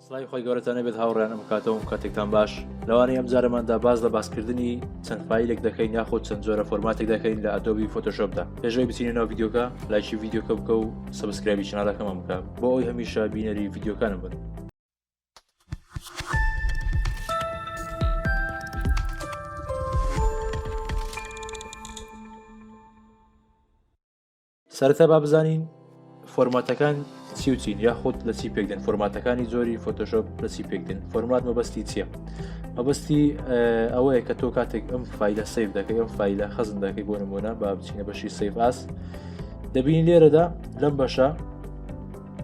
سڵاوی خۆی گەورەتانە بێت هاوڕێنم کاتەوەم کاتێکتان باش لەوانەیە ئەم جارەماندا باز لە باسکردنی چەند فیلێک دەکەین یاخود چەند جۆرە فۆرماتێک دەکەین لە ئەدۆبی فۆتۆشۆپدا پێشەوەی بچینە ناو یددیوکە لایکی یددیوکە بکە و سبسکرابی چنالەکەمان بکە بۆ ئەوی هەمیشە بینەری یددیوکانم بن. سەرەتا با بزانین فۆرماتەکان چی و چین یاخود لە چی پێکدن فۆرماتەکانی زۆری فۆتۆشۆپ لە چی پێکدن فۆرمات مەبەستی چییە مەبەستی ئەوەیە کە تۆ کاتێک ئەم فیلە سیف دەکەی ئەم فیلە خەزم دەکەی بۆ نمونە با بچینە بەشی سیف ئاس دەبین لێرەدا لەم بەشە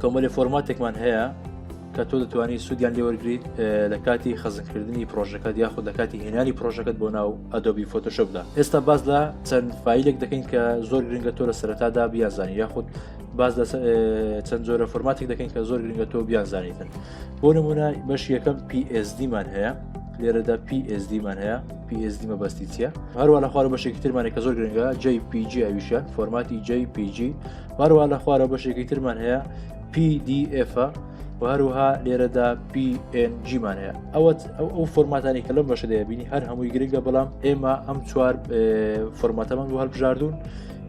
کۆمەلێ فۆرماتێکمان هەیە کە تۆ دەتوانانی سوودیان لێوەرگیت لە کاتی خەزنکردنی پرۆژەکەت یاخود لە کاتی هێنانی پرۆژەکەت بۆ ناو ئەدۆبی فۆتۆشپدا ئێستا باز لە چەند فیلێک دەکەین کە زۆر گرنگە تۆ لە سەرەتادا بیازانی یاخود باز لە چەند جۆرە فۆرماتێک دەکەین کە زۆر گرنگە تۆ بیانزانیتن بۆ نمونە بەش یەکەم PSDمان هەیە لێرەدا PSDمان هەیە PSD مەبەستی چیە هەروە لە خوارە بەشێکی ترمانێک کە زۆر گرنگە JPG ئەویشە فۆرماتی JPG هەروە لە خوارە بەشێکی ترمان هەیە PDF و هەروها لێرەدا PNGمان هەیە ئەوەت ئەو ئەو فۆرماتانی کە لەم بەشە دەبینی هەر هەمووی گرنگە بەڵام ئێمە ئەم چوار فۆرماتەمان بۆ هەلبژاردون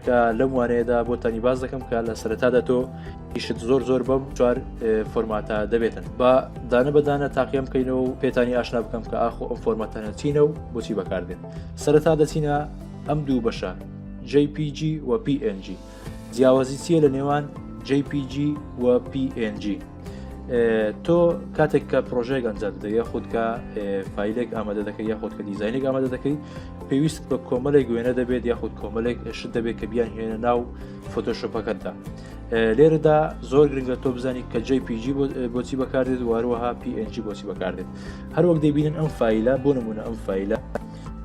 کە لەم وانەیەدا بۆ تانی باز دەکەم کە لە سەرەتادا تۆ ئیشت زۆر زۆر بەم چوار فۆرماتە دەبێتن با دانە بەدانە تاقیم بکەینەوە و پێتانی ئاشنا بکەم کە ئاخۆ ئەم فۆرماتەنە چینە و بۆچی بەکاردێن سەرەتا دەچینە ئەم دوو بەشە JPG و PNG. جیاوازی چیە لە نێوان JPG و PNG تۆ کاتێک کە پرۆژێک ئەنجام دە یا خودکە فیلێک ئامادە دەکە یا خودکە دیزینێک ئامادە دەکەی پێویست بە کۆمەلێک وێنە دەبێت یاخود کۆمەلێک شت دەبێت کە بیان هێنە ناو فۆتۆشۆپەکەتدا لێرەدا زۆر گرنگە تۆ بزانانی کە جی پیG بۆچی بەکاردێت واروەها PNG بۆچی بەکاردێت هەروەک دەبینن ئەم فیلە بۆ نمونە ئەم فیلە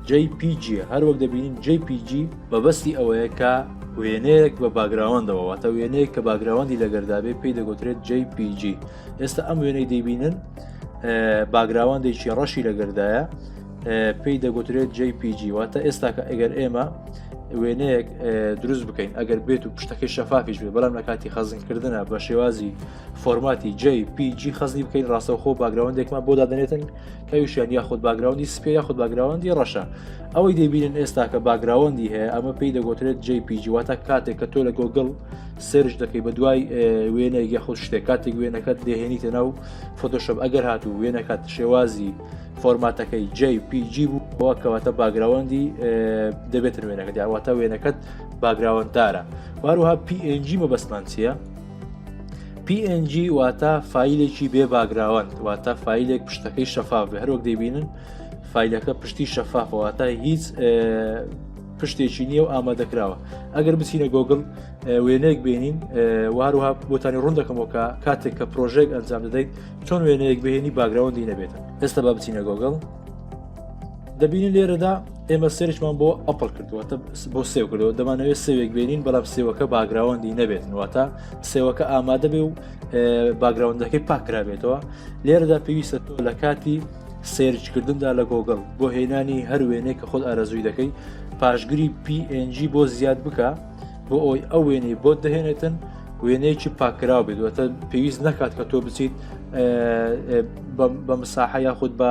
JPG، هەر وەک دەبینین JPG مەبەستی ئەوەیە کە وێنەیەک بە باگراوەندەوە واتە وێنەیەک کە باگراوەندی لەگەردابێ پێی دەگوترێت JPG ئێستا ئەم وێنەی دەیبینن باگراوەندێکی ڕەشی لەگەردایە پێی دەگوترێت JPG واتە ئێستا کە ئەگەر ئێمە وێنەیەک دروست بکەین ئەگەر بێت و پشتەکەی شەفافیش بێت بەڵام لە کاتی خەزنکردە بە شێوازی فۆرماتی JPG خەزنی بکەین ڕاستەوخۆ باگراوەندێکمان بۆ دادنێتن پێوشیان یاخود باگراوندی سپێ یاخود باگراوەندی ڕەشە ئەوەی دەبینن ئێستا کە باگراوەندی هەیە ئەمە پێی دەگوترێت جی پیجیواتە کاتێک کە تۆ لە گۆگل سرج دەکەی بە دوای وێنەی یاخود شتێک کاتێک وێنەکەت دەهێنیتە ناو فۆتۆشپ ئەگەر هات و وێنەکات شێوازی فۆرماتەکەی جی پیجی بوو بەوە کەواتە باگراوەندی دەبێتن وێنەکە دیاواتە وێنەکەت باگراوەنددارە واروها PNG مەبەستمان چییە؟ PNG واتە فیلێکی بێ باگراوەند واتە فیلێک پشتەکەی شەفاف بە هەرۆک دەبینن فیلەکە پشتی شەفافەوەتە هیچ پشتێکی نییە و ئامادەکراوە ئەگەر بچینە گۆگل وێنەیەک بێنین واروها بۆتانی ڕوون دەکەمەوە کە کاتێک کە پرۆژێک ئەنجام دەدەیت چۆن وێنەیەک بهێنی باگراوەندی نەبێت ئێستا با بچینە گۆگل دەبینی لێرەدا ئێمە سێرچمان بۆ ئەپل کردووە بۆ سێو کردەوە دەمانەوێت سێوێک بێنین بەڵام سێوەکە باگراوەندی نەبێتنواتە سێوەکە ئامادە بێ و باگراوندەکەی پاکرابێتەوە لێرەدا پێویستە تۆ لە کاتی سێرچکردندا لە گۆگل بۆ هێنانی هەر وێنێک کە خۆت ئارەزووی دەکەی پاشگری PNG بۆ زیاد بکە بۆ ئەوی ئەو وێنەی بۆت دەهێنێتن وێنەیەکی پاکراو بێت وەتە پێویست نەکات کە تۆ بچیت بە مساحە یاخود بە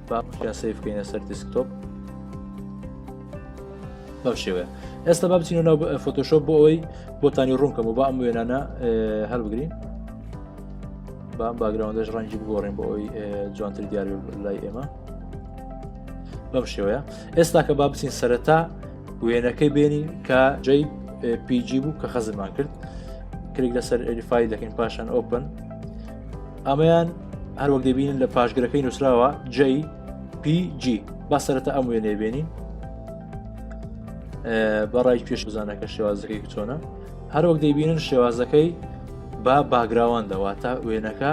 بایا سیف بکەینە سەر دیسکتۆپ بەم شێوەیە ئێستا با بچین و ناو فۆتۆشۆ بۆ ئەوەی بۆتانی ڕوونکەم و با ئەم وێنانە هەربگرین بام باگراوندەش ڕەنگی بگۆڕین بۆ ئەوی جوانتر دیاری لای ئێمە بەم شێوەیە ئێستا کە با بچین سەرەتا وێنەکەی بێنین کە جەی پیجی بوو کە خەزمان کرد کلیک لەسەر ئەریفای دەکەین پاشان ئۆپن ئەمەیان هەروەک دەبینن لە پاشگرەکەی نووسراوە جی PG با سەرەتا ئەم وێنێ بێنین بەڕای پێش بزانەکە شێوازەکەی چۆنە هەروەک دەیبینن شێوازەکەی با باگراوەندەوە تا وێنەکە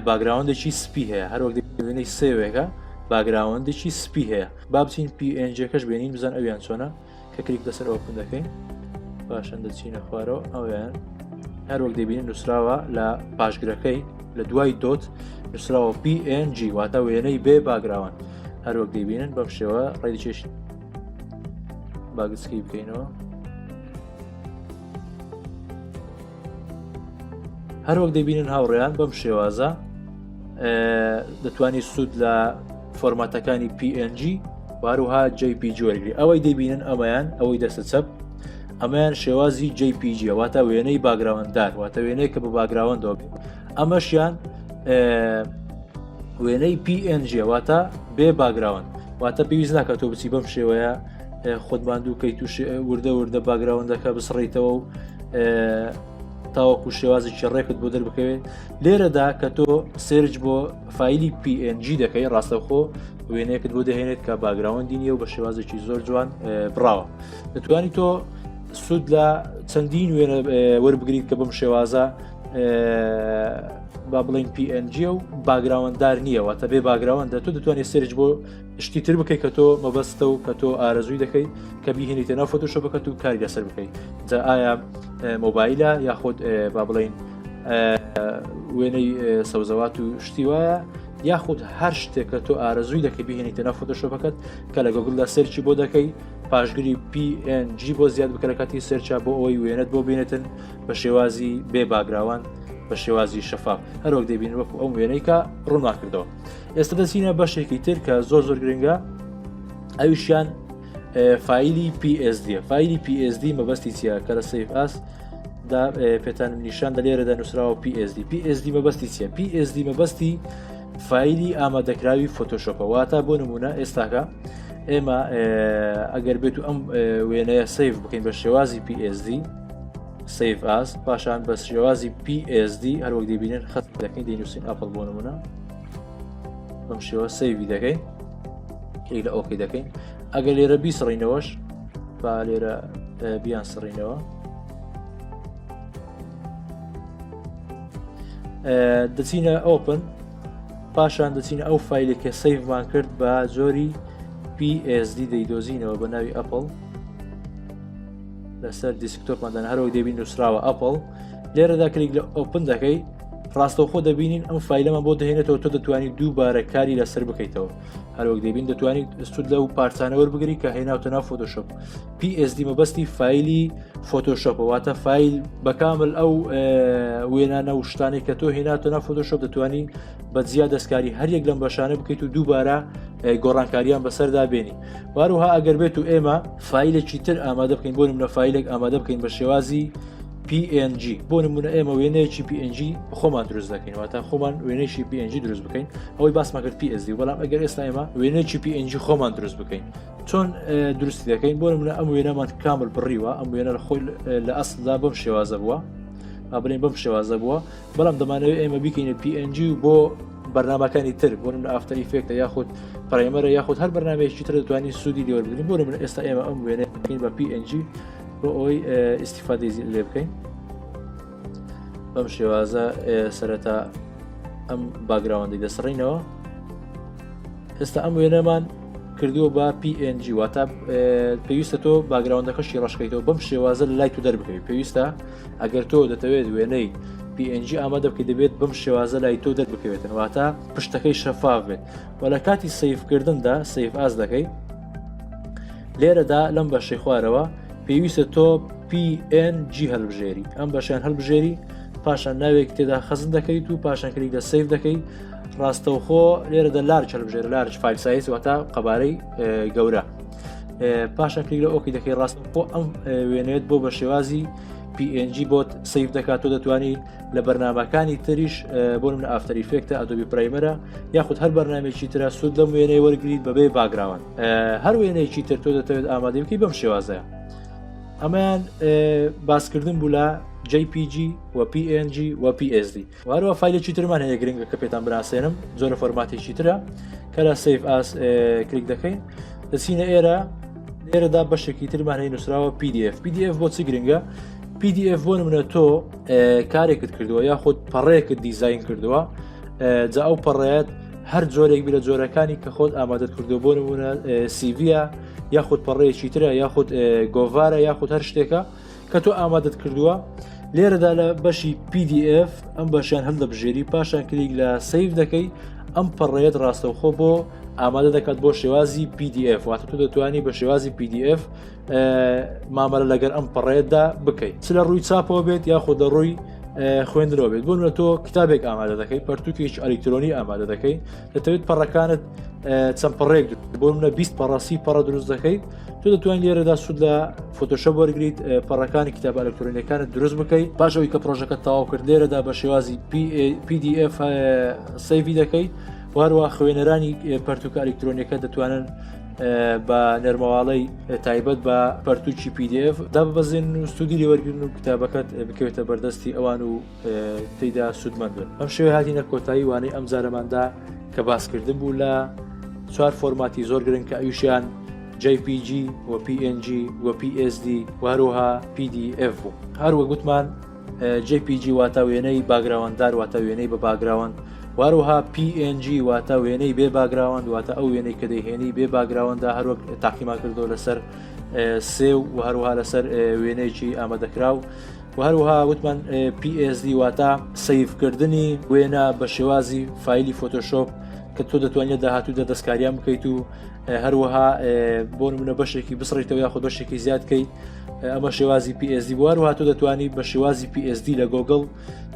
باگراوەندێکی سپی هەیە هەروەک دەبینی سێوێکە باگراوەندێکی سپی هەیە با بچین پی ئەنجەکەش بێنین بزان ئەویان چۆنە کە کلیک لەسەر ئۆپن دەکەین باشن دەچینە خوارەوە ئەویان هەروەک دەبینین نووسراوە لە پاشگرەکەی لە دوای دۆت نووسراوە PNG واتە وێنەی بێ باگراوان هەروەک دەبینن بەم شێوە ڕێکێش باگسکی بکەینەوە هەروەک دەبینن هاوڕێیان بەم شێوازە دەتوانانی سوود لە فۆرماتەکانی PNG واروها JPG وەرگری ئەوەی دەبینن ئەمەیان ئەوەی دەسە چەپ ئەمەیان شێوازی JPG واتە وێنەی باگراوەنددار واتە وێنەیە کە بە باگراوەندەوە بێت ئەمەشیان وێنەی PNG واتە بێ باگراوەند واتە پێویست ناکە تۆ بچی بەم شێوەیە خۆت ماندوو کەیت و وردە وردە باگراوندەکە بسڕیتەوە و تاوەکو شێوازێکی ڕێکت بۆ دەربکەوێت لێرەدا کە تۆ سێرج بۆ فیلی PNG دەکەی ڕاستەخۆ وێنەیەکت بۆ دەهێنێت کە باگراوەندی نیە و بە شێوازێکی زۆر جوان بڕاوە دەتوانی تۆ سوود لە چەندین وێنە وەربگریت کە بم شێوازە با بڵین PNG و باگراوەنددار نییەوە تە بێ باگراوەندە تۆ دەتوانێت سرج بۆ شتی تر بکەی کە تۆ مەبەستە و کە تۆ ئارەزووی دەکەی کە بیهێنیتە ناو فۆتۆشە بکەت و کاری لەسەر بکەیت جا ئایا مۆبایلە یاخود با بڵین وێنەی سەوزەوات و شتی وایە یاخود هەر شتێکە تۆ ئارەزووی دەکە بهێنیتە نە فۆتۆشۆپەکەت کە لە گەگوڵدا سەرچی بۆ دەکەی پاشگری PNG بۆ زیاد بکەرەکەتی سەرچا بۆ ئەوەی وێنەت بۆ بینێتن بە شێوازی بێ باگراوان بە شێوازی شەفاف هەرۆک دەبین وەکو ئەو وێنەیکە ڕووناکردەوە ئێستا دەچینە بەشێکی تر کە زۆر زۆر گرنگە ئەویشیان فیلی PSD فیلی PSD مەبەستی چیە کە لە سیف ئاس دا پێتان نیشان دە لێرەدا نووسراوە PSD PSD مەبەستی چیە PSD مەبەستی فیلی ئامادەکراوی فۆتۆشۆپە واتە بۆ نمونە ئێستاکە ئێمە ئەگەر بێت و ئەم وێنەیە سیف بکەین بە شێوازی PSD سیف ئاس پاشان بە شێوازی PSD هەروەک دەبینن خەت دەکەین دەینووسین ئەپل بۆ نمونە بەم شێوە سەیوی دەکەین کەی لە ئۆکی دەکەین ئەگە لێرە بیسڕینەوەش با لێرە بیان سڕینەوە دەچینە ئۆپن پاشان دەچینە ئەو فیلێک کە سەیفمان کرد بە جۆری PSD دەیدۆزینەوە بە ناوی ئەپل لەسەر دیسکتۆپماندان هەرەوە دەبین نووسراوە ئەپل لێرەدا کلیک لە ئۆپن دەکەی ڕاستەوخۆ دەبینین ئەم فیلەمە بۆ دەهێنێتەوە تۆ دەتوانی دووبارە کاری لەسەر بکەیتەوە هەروەک دەبین دەتوانیت سود لەو پارچانەوە بگری کە هێناوتە ناو فۆتۆشپ PSD مەبەستی فیلی فۆتۆشپەواتە فیل بەکامل ئەو وێنانە و شتانی کە تۆ هێناتە ناو فۆتۆشپ دەتوانی بە جیا دەستکاری هەریەک لەم بەشانە بکەیت و دووبارە گۆڕانکاریان بەسەردا بێنی واروها ئەگەر بێت و ئێمە فیلێکی تر ئامادە بکەین بۆ منە فیلێک ئامادە بکەین بە شێوازی PNG بۆ نمونە ئێمە وێنەیەکی PNG خۆمان دروست دەکەین واتە خۆمان وێنێکی PNG دروست بکەین ئەوەی باسمان کرد PSD بەڵام ئەگەر ئێستا ئێمە وێنێکی PNG خۆمان دروست بکەین چۆن دروستی دەکەین بۆ نمونە ئەم وێنەمان کامل بڕیوە ئەم وێنە لە خۆی لە ئەسدا بەم شێوازە بووە ئابلێن بەم شێوازە بووە بەڵام دەمانەوێت ئێمە بکەینە PNG و بۆ بەرنمەکانی تر بۆ من ئافتە ئیفێکتە یاخود پرایمەرە یاخود هەر بەنامێکی تر دەتوانین سوودی لێوەربین بۆ من ئێستا ئێمە ئەم وێنەکەین بە PNG بۆ ئەوەی ئیسیفادی لێ بکەین بەم شێوازە سەرەتا ئەم باگراوەندی دەسڕینەوە ئێستا ئەم وێنەمان کردووە بە PNG واتە پێویستە تۆ باگراوندەکەشی ڕشکەیتەوە بەم شێوازە لای تو دەربکەوی پێویستە ئەگەر تۆ دەتەوێت وێنەی PNG ئامادە بکە دەبێت بەم شێوازە لای تۆ دەربکەوێتن واتە پشتەکەی شەفاف بێت و لە کاتی سیفکردندا سیف ئاز دەکەیت لێرەدا لەم بەشەی خوارەوە پێویستە تۆ PNG هەلبژێری ئەم بەشیان هەلبژێری پاشان ناوێک تێدا خەزن دەکەیت و پاشان کلیک دە سیف دەکەیت ڕاستەوخۆ لێرە دە لار چەلبژێر لارج فیل سایز واتە قەبارەی گەورە پاشان کلیک لە ئۆکی دەکەی ڕاستەخۆ ئەم وێنێت بۆ بە شێوازی PNG بۆت سیف دەکات تۆ دەتوانانی لە بەرنمەکانی تریش بۆ من ئافتری فێکتە ئەدوبی پرایمەرە یاخود هەر بەرنمێکی تررا سوود لەم وێنەی وەرگیت بەبێ باگراون هەر وێنەیەکی تر تۆ دەتەوێت ئامادەمکی بەم شێوازەیە ئەمەیان باسکردن بوو لە JPG و PNG و PSD وارەوە فیلێکی ترمان هەیە گرنگە کە پێتان بناسێنم زۆرە فۆرماتێکی ترە کە لە سف ئاس کلیک دەکەین دەچینە ئێرە ئێرەدا بەشێکی ترمان هەیە نووسراوە PDF PDF بۆ چی گرنگە PDF بۆ نمونە تۆ کارێکت کردووە یاخود پەڕێکت دیزین کردووە جا ئەو پەڕێت هەر جۆرێک بی لە جۆرەکانی کە خۆت ئامادەت کردو بۆ نمونە سیڤە یاخود پەڕێکی ترە یاخود گۆڤارە یاخود هەر شتێکە کە تۆ ئامادەت کردووە لێرەدا لە بەشی PDF ئەم بەشیان هەم دەبژێری پاشان کلیک لە سیف دەکەی ئەم پەڕێت ڕاستەوخۆ بۆ ئامادە دەکات بۆ شێوازی PDF واتە تو دەتوانانی بە شێوازی PDF مامەرە لەگەر ئەم پەڕێدا بکەیت چ لە ڕووی چاپەوە بێت یاخۆ دە ڕووی خوێندرەوە بێت بۆن لە تۆ کتابێک ئامادە دەکەی پەرتوکیش ئەلیکترۆنی ئامادە دەکەی دەتەوێت پەڕەکانت چەند پەڕێک بۆ منە 20 پەڕاسی پەڕە دروست دەکەیت تۆ دەتوانین لێرەدا سوود لە فۆتۆشە وەرگیت پەڕەکانی کتاب ئەلکترۆنیەکانت دروست بکەیت باشەوەی کە پرۆژەکە تاوا کرد لێرەدا بە شێوازی PDF سەیوی دەکەیت واروا خوێنەرانی پەرتوکە ئەلکترۆنیەکە دەتوانن بە نەرمەواڵەی تایبەت بە پەرتوکی پیدF داببەزین و سوودی لێوەرگن و کتابەکەت بکەوێتە بەردەستی ئەوان و تێدا سوودمەند بن ئەم شێوە هاتیینە کۆتایی وانەی ئەم جارەماندا کە باسکردن بوو لە چوار فۆرماتی زۆر گرنگ کە ئەویشیان JPG و PNG و PSD وهروها PDF بوو هەروە گوتمان jpg واتە وێنەی باگراوەنددار واتە وێنەی بە باگراوەند واروها PNG واتە وێنەی بێ باگراوەند واتە ئەو وێنەی کە دەهێنی بێ باگراوەندە هەروەک تاقیمان کردو لەسەر سێ و هەروها لەسەر وێنەیەکی ئامادەکراو و هەروها وتمان PSD واتە سیفکردنی وێنە بە شێوازی فیلی فۆتۆشۆپ کە تۆ دەتوانێت داهاتوو دە دەستکاریان بکەیت و هەروەها بۆ منە بەشێکی بسڕیتەوە یاخود بەشێکی زیادکەیت ئەمە شێوازی PSD بوار و هاتو دەتوانی بە شێوازی PSD لە گۆگل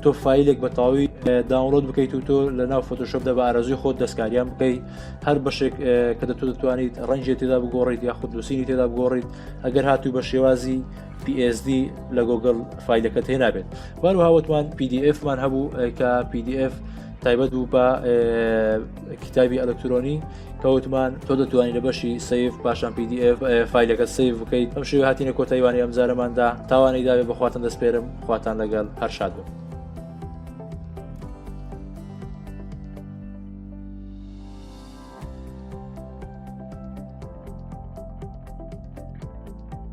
تۆ فیلێک بە تەواوی داونلۆد بکەیت و تۆ لە ناو فۆتۆشپ دە بە ئارەزوی خۆت دەستکاریان بکەیت هەر بەشێک کە دەتو دەتوانیت ڕەنجێت تێدا بگۆڕیت یا خود دوسینی تێدا بگۆڕیت ئەگەر هاتوو بە شێوازی PSD لە گۆگل فیلەکە تێنابێت بارو هاوتمان PDF مان هەبوو کە PDF تایبەت بوو بە کتابی ئەلکترۆنی کە وتمان تۆ دەتوانانی لە بەشی سیف پاشان PDF فیلەکە سیف بکەیت ئەم شێوە هاتینە کۆتایوانی ئەم جارەماندا تاوانەی داوێ بەخواتن دەستپێرم خواتان لەگەڵ هەرشاد بن